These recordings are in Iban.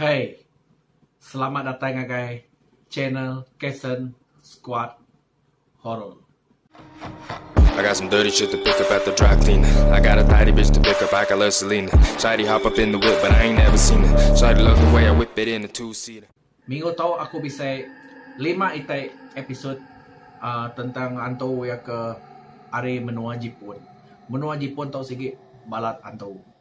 Hey! Selamat datai ngagai channel Kason Squad Horror. I got some dirty shit to pick up at the dry clean I got a tighty bitch to pick up, I got love Selena Shawty hop up in the whip but I ain't never seen her Shawty love the way I whip it in a two seater Minggu tu aku bisi lima iti episode tentang hantu iya ke ari menua Jipun. Menua Jipun tu sigi balat hantu.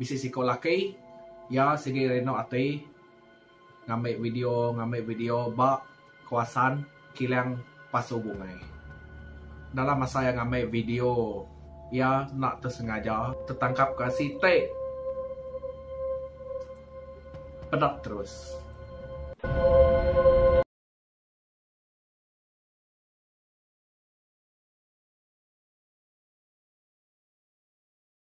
Bisi siko laki iya sigi rino ati ngambi video ngambi video ba kawasan kilang pasu bungai. Dalam masa iya ngambi video iya enda tesengaja tetangkap ka siti pedek terus.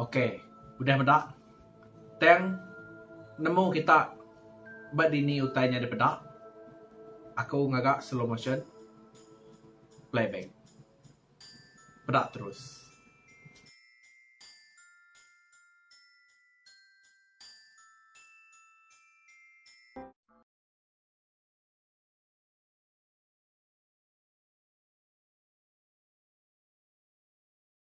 Ok udah meda tang nemu kita ba dini utai nyadi peda aku ngaga slow motion play back peda terus.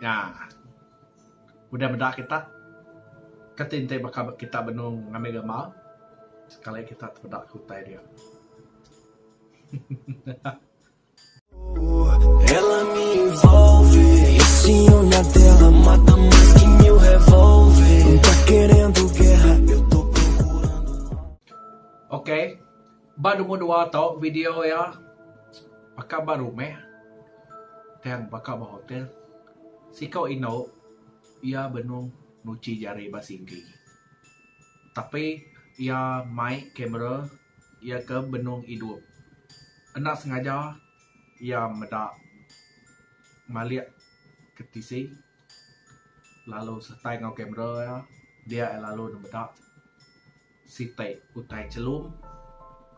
Nya udah meda kita ke ti enti baka kita benung ngambi gambar sekali kita tepeda ke utai dia. Ok ba number dua tu video iya baka ba rumah tang baka ba hotel siko inu iya benung nguchi jari ba singgi tapi iya mai camera. Iya ke benung idup. Enda sengaja iya meda malik ke tisi lalu sertai enggau kamera iya. Dia iya lalu nemeda siti utai chelum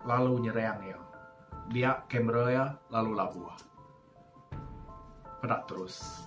lalu nyerang iya. Dia kamera iya lalu labuh. Peda terus.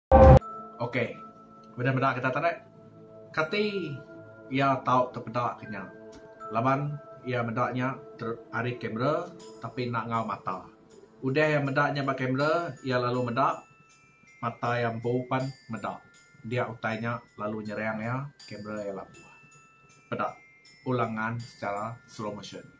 Okey. Beda meda kita tu deh. Kati iya tau tepeda ke nya? Laban iya meda nya ari kamera tapi enda enggau mata. Udah iya meda nya ba kamera, iya lalu meda, mata iya empu pan meda. Dia utai nya lalu nyerang iya, kamera iya labuh. Peda ulang ngan secara slow motion.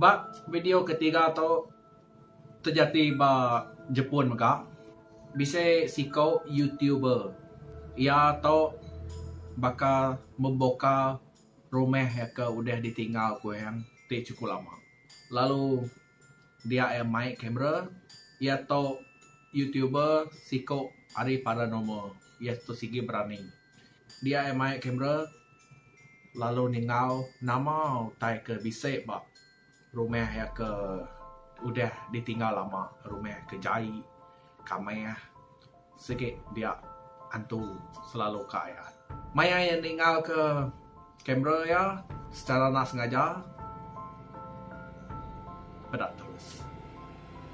Ba video ketiga tu Terjadi ba Jepun mega, bisi siko YouTuber iya to baka memboka rumah iya ke udah ditinggal ku Eyang ti chukup lama. Lalu dia iya mai kamera, iya to YouTuber siko ari paranormal. Iya to sigi berani. Dia iya mai kamera lalu ninga nama utai ke bisi ba. Rumah iya ke udah ditinggal lama, rumah ke jai, kamah, sigi dia antu selalu ka iya. Maya iya ningal ke kamera iya secara enda sengaja peda terus.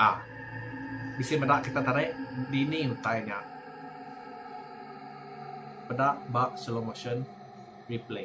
Aa. Bisi meda kita tarik dini utai nya. Peda ba slow motion replay.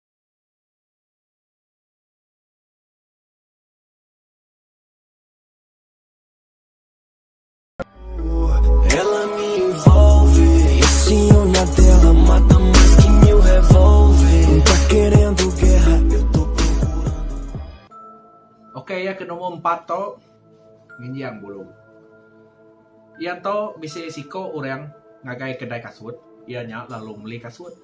Okey iya ke nombor empat tu nginjing bulu. Iya tu bisi siko orang ngagai kedai kasut iya nya lalu meli kasut.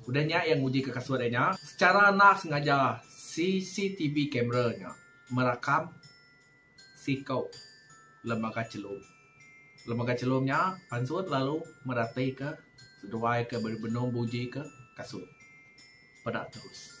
Udah nya iya ngujika kasut iya nya sechara enda sengaja CCTV camera nya merakam siko lembaga chelum. Lembaga chelum nya pansut lalu meratika seduai ke benung bujika kasut. Peda terus.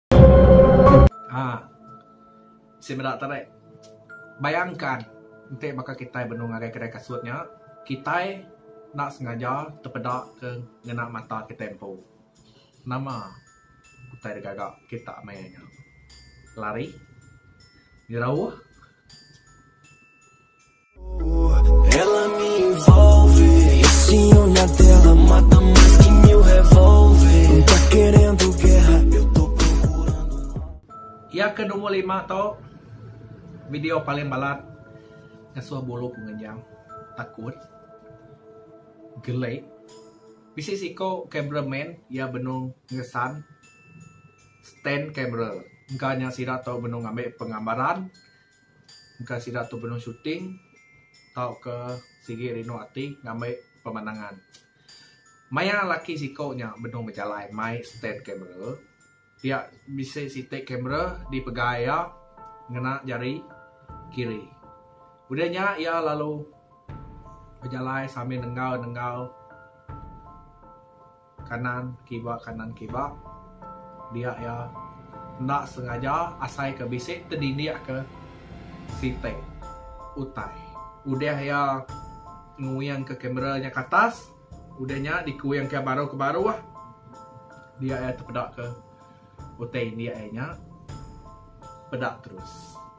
Haa. Sik meda te deh. Bayangkan enti baka kitai benung ngagai kedai kasut nya, kitai enda sengaja tepeda ke ngena mata kitai empu. Nama utai da gaga kita maya nya? Lari? Nyerauh? Iya ke nombor lima tu video paling balat ngasuh bulu ku ngenyam takut gele bisi siko camera man iya benung ngesan stand camera engka nya sida tu benung ngambi pengambaran engka sida tu benung shooting tauka sigi rindu ati ngambi pemandangan. Maya laki siko nya benung bejalai mai stand kamera, pia bisi siti kamera dipegai iya ngena jari kiri. Udah nya iya lalu bejalai sambil nenggau-nenggau. Kanan kiba kanan kiba dia iya enda sengaja asai ke bisi tedidik ke siti utai udah iya nguing ke kamera nya ke atas udah nya di kuing ke baru ke baruh dia iya tepeda ke utai indik iya nya peda terus.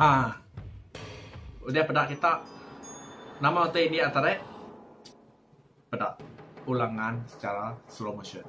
Aaa udah peda kita nama utai india tadek peda pulang ngan secara slow motion.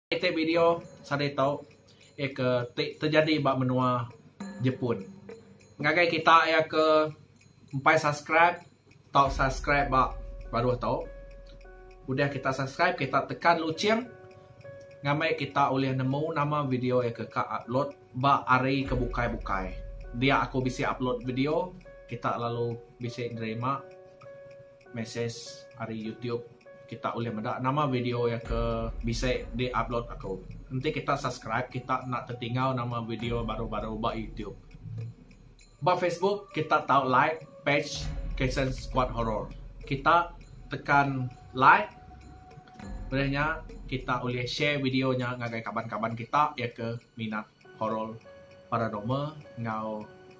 Iti video sadi tu iya ke ti tejadi ba menua Jepun. Ngagai kita iya ke empai subscribe tau subscribe ba baruh tu. Udah kita subscribe kita tekan luching ngamai kita ulih nemu nama video iya ke ka upload ba hari ke bukai-bukai. Dia aku bisi upload video kita lalu bisi nerima. Mesej ari YouTube kita ulih meda nama video iya ke bisi di upload aku. Enti kita subscribe kita enda tetingau nama video baru baru ba YouTube. Ba Facebook kita tau like page Kitchen Squad Horror. Kita tekan like ulih nya kita ulih share video nya ngagai kaban kaban kita iya ke minat horror paranormal enggau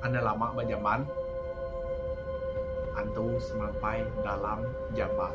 Enda lama ba jamban antu semampai dalam jamban.